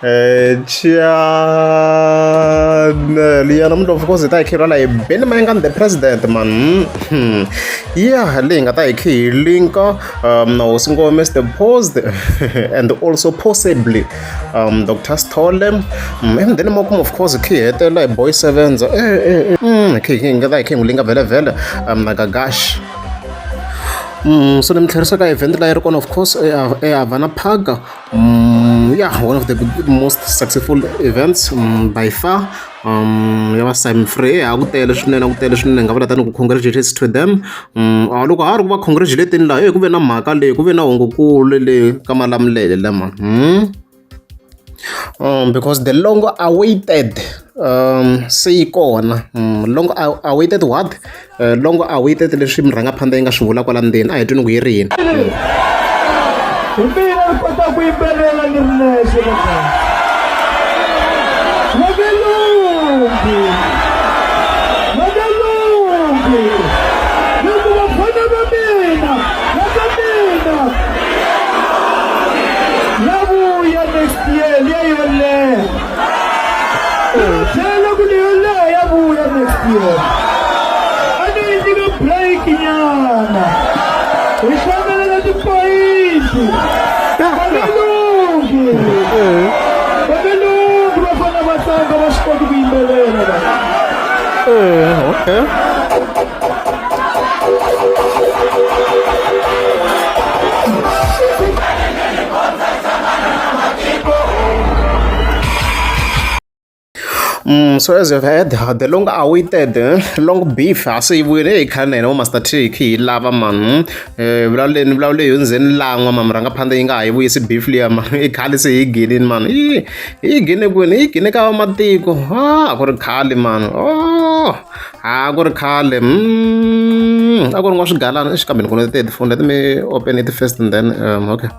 Eh, Chiana Liana Mntu of course hi ta hi khirhela hi Benny Mayengani the president man hmm. yeah leyi nga ta hi khi hi linka um, na hosi ngome the post and also possibly um, Dr. Stole um, and then mo kuma of course khi hetela hi boy sevenza eh, eh, eh. Mm, khi hi nga ta hi khi hi n'wi linka vhele vhele um, na Gagash so ni mi tlherisa ka event leyi ri kona of course ehavana park ya one of the most successful events by far um ya va sime free ha ku tele swinene ku tele swinene nga vula tani ku congratulations to them um loko ha ri ku va congratulating laha ku ve na mhaka leyi ku ve na hungukulu le ka malamulele lama hmm because the longer awaited se yi kona longer awaited what longer awaited leswi murhangaphanḓa yi nga swi vula kwala ndzeni a hi twini ku yi ri yini hi mina ni kota ku yimbelela ni ri nexe makelungi makelungi yavuya next year leyoleha tlhela ku leyoleha yavuya next year a ni yi nyika break nyana hi hlamelela tipoyinti valungi valungi va fana va tlanga va swi koti ku yimbelela va Eh, okay. Mm, so as you've heard, the long awaited eh, long beef asiyiwile hi khale na hina vo master trick hi lava mani eh, vulavuleni vulavula hi hundzeni lan'wa mani rhanga phanda yi nga ha yi vuyisi beef liya mani i khale se hi ginini mani yi yi gine kwini yi gine ka vamatiko a ah, ku ri khale mani o oh. a ku ri khale a ku ri n'wa swigalana exi kambe ni vona ti-headphone let me open it first and then um, okay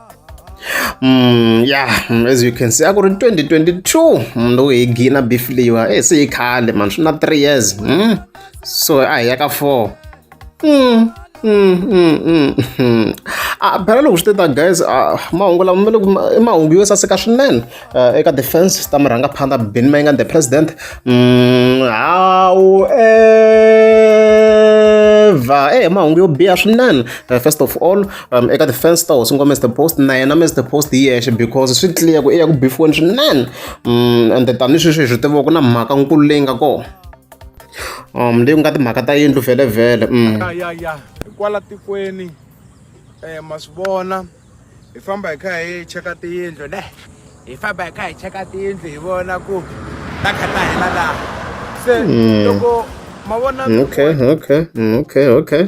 Mm, yeah, mm, as you can see a ku ri 2022 mm, loko hi gina beef leyiwa e se yi khale mani swi na three years mm? so a hi ya ka four Mm, mm, mm, mm, mm. Ah, phela loko swi te ta guys ah, mahungu lama ma le ku ma- i mahungu yo saseka swinene Ah, eka defense ta murhangaphandha ben mayinga the president Mm, however eh mahungu yo biha swinene Eh, first of all um, eka defense ta hosi ngo mr post na yena mr post hi yexe because swi clear ku i ya ku bifiweni swinene Mm, and tanihi sweswi hi swi tiva ku na mhaka nkulu leyi nga kona um leyi ku nga timhaka ta yindlu vhele mm. ya ya ya hikwala tikweni um ma swi vona hi famba hi kha hi cheka tiyindlu ne hi famba hi kha hi cheka tiyindlu hi vona ku ta kha ta hela laha se mm. loko ma vona mm, okay okay okay okay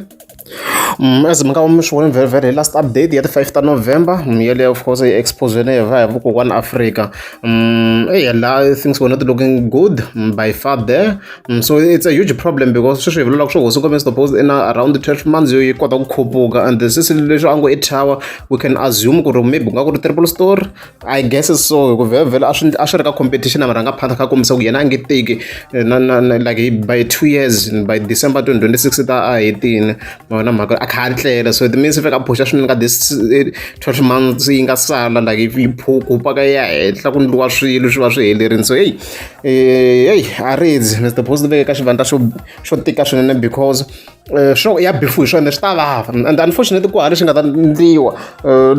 As mi nga mi swi vona very very last update ya ti five ta November yaleyo of course yi expose-we hi va hi vakokwani Afrika eya la things were not looking good by far there so it's a huge problem because sweswi hi vulaka swa ku hosi Nkomiso Dobose i na around twelve months yo yi kota ku khuphuka and since leswi a ngo i thyawa we can assume ku ri maybe ku nga ku ri triple storey. I guess so hi ku vhevhela a swi a swi ri ka competition a marhangaphandha kha kombisa ku yena a nge teki eh, na na na like by two years by December 2026 ta a hetini ma vona mhaka a kha tlela so it means fika phusha swinene ka this 12 eh, months yi nga sala like if yi phukupa ka ya henhla ku ndliwa swilo swi va swi helerini so hey eh, hey a ridzi Mr Post veke ka xivandla xo xo tika swinene because swo ya befu hi swona swi ta vava and unfortunately ku ha lexi nga ta endliwa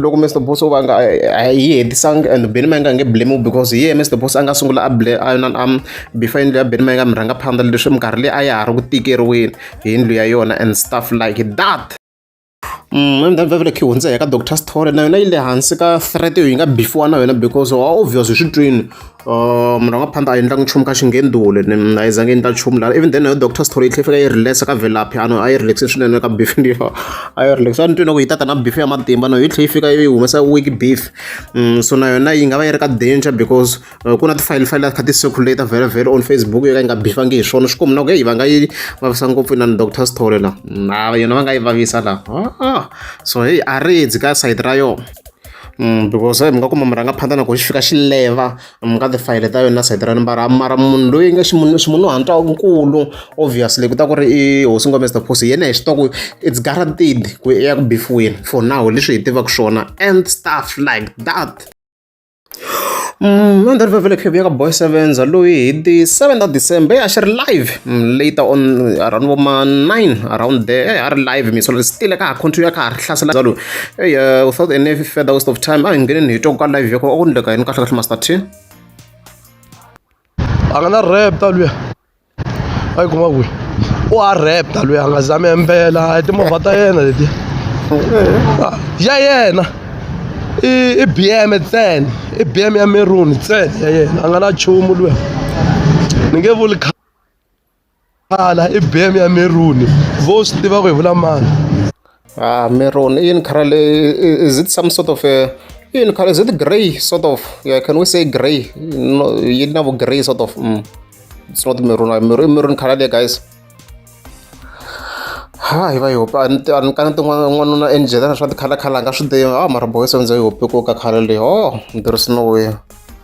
loko mr boss o va nga a yi hetisangi and beni ma nga nge blame because hi yena mr boss a nga sungula a ble a yona am before yindlu ya beni ma nga mi rhanga phanda leswi minkarhi leyi a ya ha ri ku tikeriweni hi yindlu ya yona and stuff like that Ndhavuko leyi hundza eka doctor sithole na yona yi le hansi ka threat yo yi nga bifiwa na yona because wa obvious hi swi twini munhu a nga phanda a endlanga nchumu ka xingendule ni a yi zangi yi endla nchumu lana even then nayo doctor sithole yi tlhe fika yi relax ka velaphi ano a yi relax swinene ka beef liya a yi relax a ni twini ku yi tata na beef ya matimba no yi tlhe yi fika yi humesa weak beef so na yona yi nga va yi ri ka danger because ku na ti-file file kha ti circulate very very on facebook yo ka yi nga bifangi hi swona swi ku mina ku heyi va nga yi vavisa ngopfu inani doctor story la na yona va nga yi vavisa la ah, so heyi a ri dzi ka sayiti ra yona mm, because mi nga kuma murhangaphandza na ku xi fika xi leva mi ka tifayele ta yona sayiti ra nimbara mara munhu loyi nge ximunhu hantwa nkulu obviously ku ta ku ri i hosi ngome mr posi yena hi swi twa ku it's guaranteed ku ya ku bifiweni for now leswi hi tivaka swona and stuff like that Mandhari vha vele khevhu ya ka boy sevenza loyi hi ti seven ta december a xi ri live later on around vo ma nine around there a ri live mi solo sitile ka ha continue ka ha ri hlasela zalo ey without any further waste of time a hi ngeneni hi twa ka live ya ko a ku ndleka yini kahle kahle master t a nga na rap ta luya a yi kuma kwihi u a raptor loyi a nga zami embela a hi timovha ta yena letiya ya yena i i bm ntsena i bm ya meruni ntsena ya yena a nga na chumu luya ni nge vuli khala i bm ya meruni vo swi tiva ku hi vula mani Ah, maroon. In color, is it some sort of a in color? Is it gray sort of? Yeah, can we say gray? No, you know, gray sort of. Mm. It's not maroon. Ah, maroon, maroon color there, guys. ha hi va yi hopi a ni a ni ka ni tin'wana n'wanuna enjela na swa tikhalakhala a nga swi tivi a mara boy se ndzi yi hopi ku ka khale leyi o oh, there is no way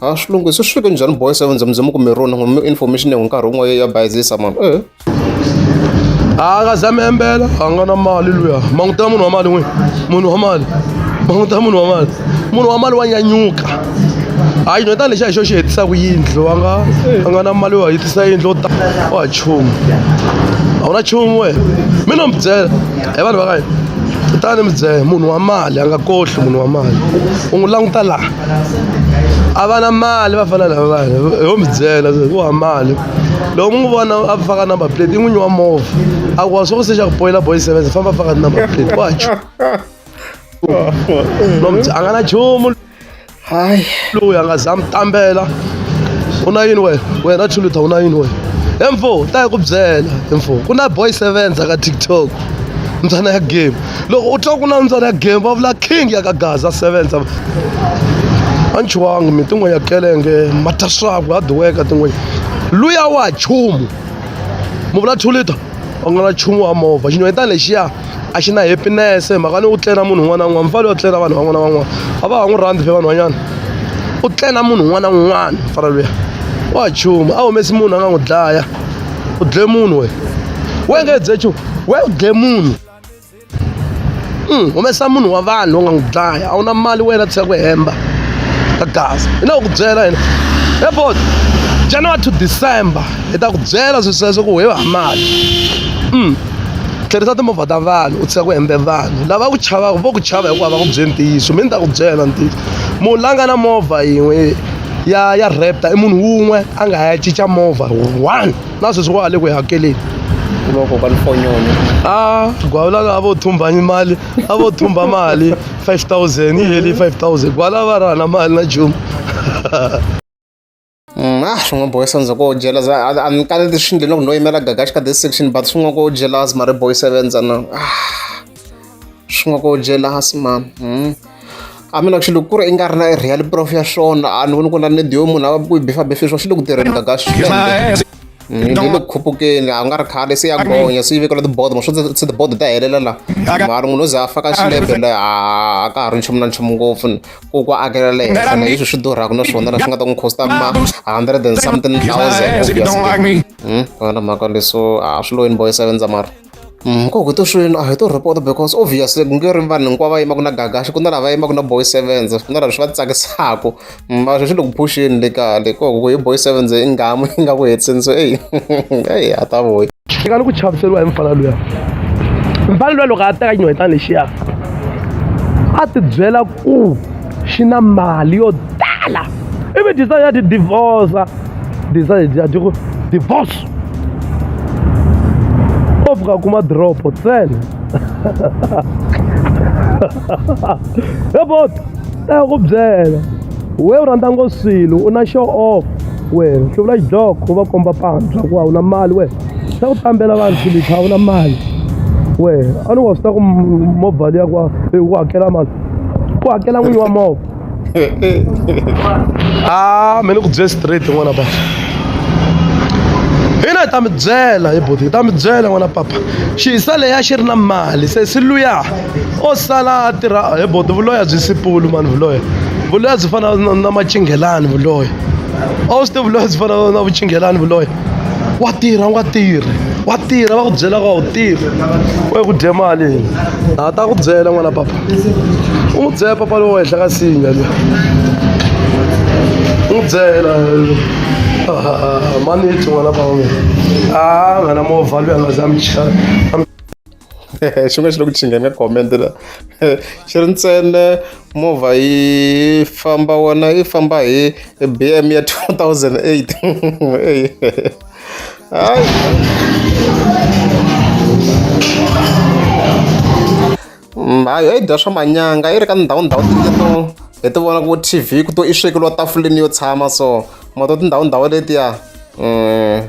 ha swi lunghisi swi fike njhani boy seven zamuzama kumbe rona ngomi information yangu nkarhi wun'we ya bayizisa mani e a ka zamembela a nga na mali luya manguta munhu wa mali n'wini munhu wa mali manguta munhu wa mali munhu wa mali wa nyanyuka hayi no tanihi xa hi xo xi hetisaka yindlu a nga a nga na mali yo hetisa yindlu o ta wa chumu a wu na chumu wena mi no mi byela hi vanhu va ka hina kutani mi byela munhu wa mali a nga kohli munhu wa mali u n'wi languta laha a va na mali va fana lava vanhu ho mi byela ku wa mali loko mi n'wi vona a faka number plate i n'winyi wa movha a ku wa swi ku se xa ku boyila boy seven famba faka number plate wa chu a nga na chumu hayi loyi a nga za mi tambela u na yini wena wena chuluta u na yini wena he mfo ta yi ku byela he mfo ku na boy seven ka tiktok mbyana ya game loko u twa ku na mbyana ya game va vula king ya ka gaza sevenza a ni chuwangi mi tin'we ya kelenge mataswaku ha duweka tin'we luya wa chumu mu vula two liter u nga na chumu wa movha xinyonyetana lexiya a xi na happiness hi mhaka ni u tlena munhu un'wana na un'wana mfalo yo tlena vanhu van'wana van'wana a va ha n'wi rhandzi phe vanhwanyana u tlena munhu un'wana na un'wana mfana luya wa chumu a humesi munhu a nga n'wi dlaya u dle munhu we we nge dze chu we u dle munhu hmm, humesa munhu wa vanhu u nga n'wi dlaya a wu na mali wena tshika ku hemba ka gaza hi na ku byela yena airport january to december hi ta ku byela swi sweswo ku hi hamali hmm, tlherisa timovha ta vanhu u tshika ku hembe vanhu lava ku chavaka vo ku chava hikuva va ku byeli ntiyiso mi ni ta ku byela ntiyiso munhu la nga na movha yin'we ya ya raptor i munhu wun'we a nga ya cinca movha one na sweswi wa le ku yi hakeleni kuloko ka mfonyoni a gwala lava vo thumba mali a vo thumba mali 5000 yi heli 5000 gwala va rana mali na jumu Mm, ah swin'we boy sevens ko jealous a ni kale leswi ndleni loko no yimela gagaxi ka this section but swin'we ko jealous mari boy sevens ana ah swi nga ku jealous mhani a mina ku xilo ku ri i nga ri na real prof ya swona a ni voni ku na need yo munhu a ku yi bifabifa sweswo swi le ku tirheni gaga swinene ni le ku khupukeni a nga ri khale se ya gonya se yi vekela tibodo ma swo se tibodo ta helela la mara munhu o ze a faka xilepe la a ka ha ri nchumu na nchumu ngopfu ku ku akela le henhla na leswi swi durhaka na swona la swi nga ta n'wi costa ma hundred and something thousand obviously wena mhaka leswo a swi loyini boyisa vendza mara nkoka to swilo a hi to report because obviously ku nge ri vanhu hinkwavo va yimaka na gagaxi ku na lava yimaka na boy sevens ku na lava swi va tsakisaka mm, va swi swi le ku phuxeni le kale koko ku hi boy sevens i ngamu yi nga ku hetiseni so eyi eyi a ta voyi xi nga ni ku chaviseriwa hi mfana luya mfana luya loko a teka xinhwetana lexiya a ti byela ku xi na mali yo tala ivi disa ya ti divorce disa ya ti ku divorce o fika a kuma doropo ntsena ebot a ya ku byela we u rhandza ngo swilo u na show off wena swi vula xidloko u va komba pantshwa ku a wu na mali wena xa ku tambela vanhu swilipha a wu na mali wena a ni wa swi ta ku movha liya ku wa ku hakela mali ku hakela n'winyi wa movha ah me ni ku bye straight n'wana papa hina hi ta mi byela hi boti hi ta mi byela n'wana papa xiyisa leya xi ri na mali se si luya o sala a tirha hi boti vuloya byi sipulu mani vuloya vuloya byi fana na macinghelani vuloya a wu swi tivi vuloya byi fana na vucinghelani vuloya wa tirha u nga tirhi wa tirha va ku byela ka u tirhi we ku dye mali a ta ku byela n'wana papa u n'wi byela papa lowo henhla ka sinya le u n'wi byela maniti n'wana papa a nghana movha loyi a nga za michana xi nga xi le ku chingeni ka comment la xi ri ntsena movha yi famba wona yi famba hi bm ya 2008 hayi mm, hayi yi dya swa manyanga yi ri ka ndhawu ndhawu tingeto hi ti vona ku tv ku to i swekeliwa tafuleni yo tshama so mato tindhawu ndhawu letiya um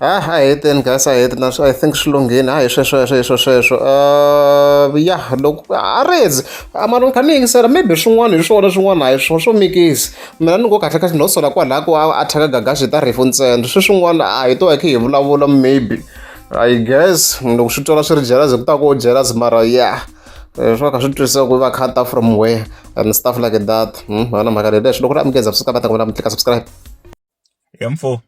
a a heteni guys a heti na i think swi lunghini a hi swesweswo hiswo sweswo um ya loko a redzi mara ni kha ni yingisela maybe swin'wana hi swona swin'wana a hi swona swo mikisi mina ni ngo kahle kahle no sola kwalaho ku a thyaka gagaxi ta rifu ntsena swi swin'wana a hi to hi khe hi vulavula maybe i guess loko swi twala swi ri jealous ku ta ku jealous mara ya eh, swo ka swi twisisa ku va khata from where and stuff like that hmm, vana mhaka leleswi loko ri amukeza swi ka va ta ku vula mi tlika subscribe ya mfo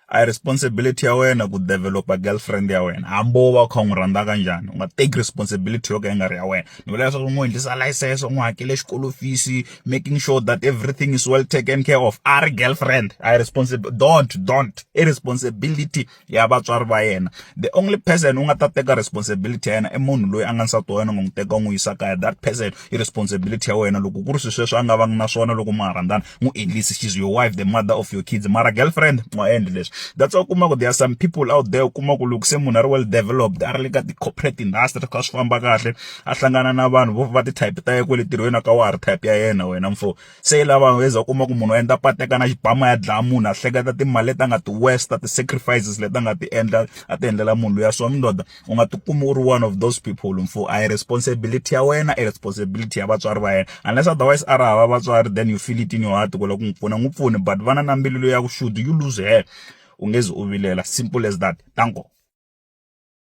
a hi responsibility ya wena ku develop-a girlfriend ya wena hambi wo va u kha u n'wi rhandza kanjhani u nga teki responsibility yo ka yi nga ri ya wena ni vula leswaku u n'wi endlisa license u n'wi hakele xikolo fees making sure that everything is well taken care of a ri girlfriend a hi responsible don't don't i responsibility ya vatswari va yena the only person u nga ta teka responsibility ya yena i munhu loyi a nga nsati wa yena u nga n'wi teka u n'wi yisa kaya that person i responsibility ya wena loko ku ri swilo sweswo a nga vangi na swona loko ma ha rhandzana n'wi endlise she's your wife the mother of your kids mara girlfriend u nga endli leswi that's why u kuma ku there are some people out there u kuma ku loko se munhu a ri well developed a ri le ka ti-corporate industry swi kha swi famba kahle a hlangana na vanhu vo va ti-type ta yena kwale ntirhweni a ka wa ha ri type ya yena wena mfo se i lava u za u kuma ku munhu u endla pateka na xibamu a ya dlaya munhu a hleketa timali leti a nga ti waste ti-sacrifices leti a nga ti endla a ti endlela munhu luya so ndoda. u nga ti kumi u ri one of those people mfo a hi responsibility ya wena i responsibility ya vatswari va yena unless otherwise a ri hava vatswari then you feel it in your heart ku lava ku n'wi pfuna n'wi pfuni but vana na mbilu leyi ya ku should you lose her u nge zi u vilela simple as that tanko.